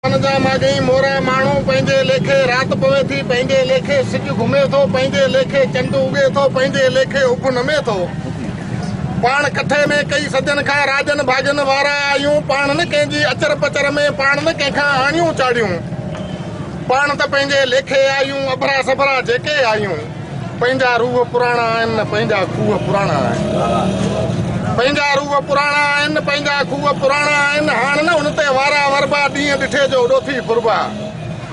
ان جا ماڳهين مورا ماڻهو پنهنجي ليکي رات پوي ٿي، پنهنجي ليکي سج گهمي ٿو، پنهنجي ليکي چنڊ اڳي ٿو، پنهنجي ليکي اڀ نمي ٿو. پاڻ ڪٺي ۾ ڪئي صدين کان راڄن ڀاڄن وارا آهيون، پاڻ نه ڪنهن جي اچر پچر ۾ پاڻ نه ڪنهن کان آڻيون چاڙهيون، پاڻ ته پنهنجي ليکي آهيون، اڀرا سڀرا جيڪي آهيون. پنهنجا روح پراڻا آهن نه پنهنجا کوهه پراڻا آهن پنهنجا روح پراڻا آهن نه پنهنجا کوهه پراڻا آهن هاڻ نه هن تي وارا وربا ڏينهن ڏٺي جو ڏوٿي ڦربا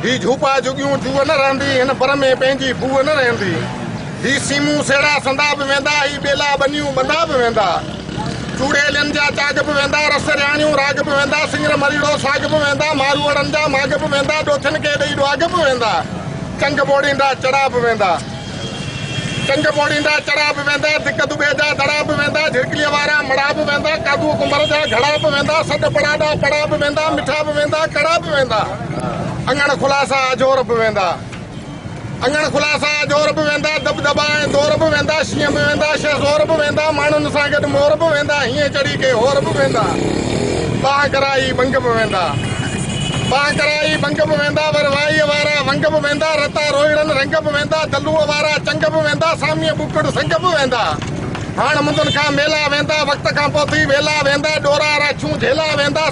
هي جهوپا جهڳيون جوء نه رهندي هن بر ۾ پنهنجي بوء نه رهندي هي سيمون سيڙا سندا به ويندا هي ٻيلا ٻنيون ٻندا به ويندا چوڙيلين جا چاڳ به ويندا رس رياڻيون راڳ به ويندا سڱر مريڙو ساڳ به ويندا ماروئڙن جا ماڳ به ويندا ڏوٿين کي ڏئي ڏواڳ به ويندا چنگ ٻوڙيندا چڙها به ويندا چنگ ٻوڙيندا چڙها به ويندا ڌڪ دٻي جا دڙا به ويندا جهرڪليء وارا مڙها به ويندا ڪاڌوء ڪنڀر جا گهڙا به ويندا سڏ پڙاڏا پڙها به ويندا مٺا به ويندا ڪڙا به ويندا اڱڻ خلاصا اجهور به ويندا اڱڻ خلاصا اجهور به ويندا دٻ دٻا ۽ دور به ويندا شينهن به ويندا شهه زور به ويندا ماڻهن سان گڏ مور به ويندا هيئن چڙهي ڪي هور به ويندا بانهه ڪرائي ٻنگ به ويندا باهه ڪرائي ڀنگ به ويندا، ور وائيء وارا ونگ به ويندا، رتا روهڙن رنگ به ويندا، دلوء وارا چنگ به ويندا، ساميء ٻوڪڙ سنگ به ويندا. هاڻ مندن کان ميلا ويندا، وقت کان پوء ٿي ويلا ويندا، ڏورا راڇون جهيلا ويندا،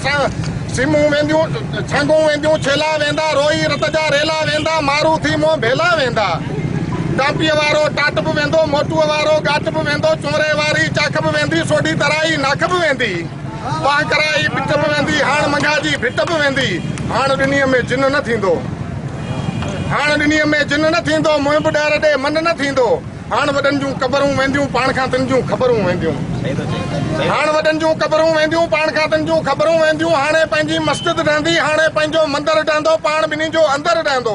سيمون وينديون سانگهون وينديون ڇيلا ويندا، روئي رت جا ريلا ويندا، مارون ٿي منهن ڀيلا ويندا. ٽانپيء وارو ٽاٽ به ويندو، موٽوء وارو ڳاٽ به ويندو، چونري واري چاک به ويندي، سوڍي ترائي ناک به ويندي. پاڻ ڪرائي پٽ به ويندي هاڻ منگها جي ڀٽ به ويندي هاڻ ڏني ۾ جن نه ٿيندو هاڻ ڏني ۾ جن نه ٿيندو منهن به ڏهر ڏي من نه ٿيندو هاڻ وڏن جون قبرون وينديون پاڻ کان تن جون خبرون وينديون هاڻ وڏن جون قبرون وينديون پاڻ کان تن جون خبرون وينديون هاڻي پنهنجي مسجد ڊهندي هاڻي پنهنجو مندر ڊهندو پاڻ ٻنهي جو اندر ڊهندو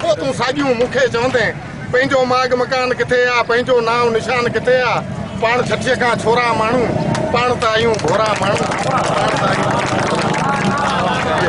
پوء تون ساڳيون مون کي چوندين، پنهنجو ماڳ مڪان ڪٿي آ، پنهنجو نانء نشان ڪٿي آ، پاڻ ڇٺيء کان ڇورا ماڻهو، پاڻ ته آهيون ڀورا ماڻهو، پاڻ ته آهيون ڀورا ماڻهو.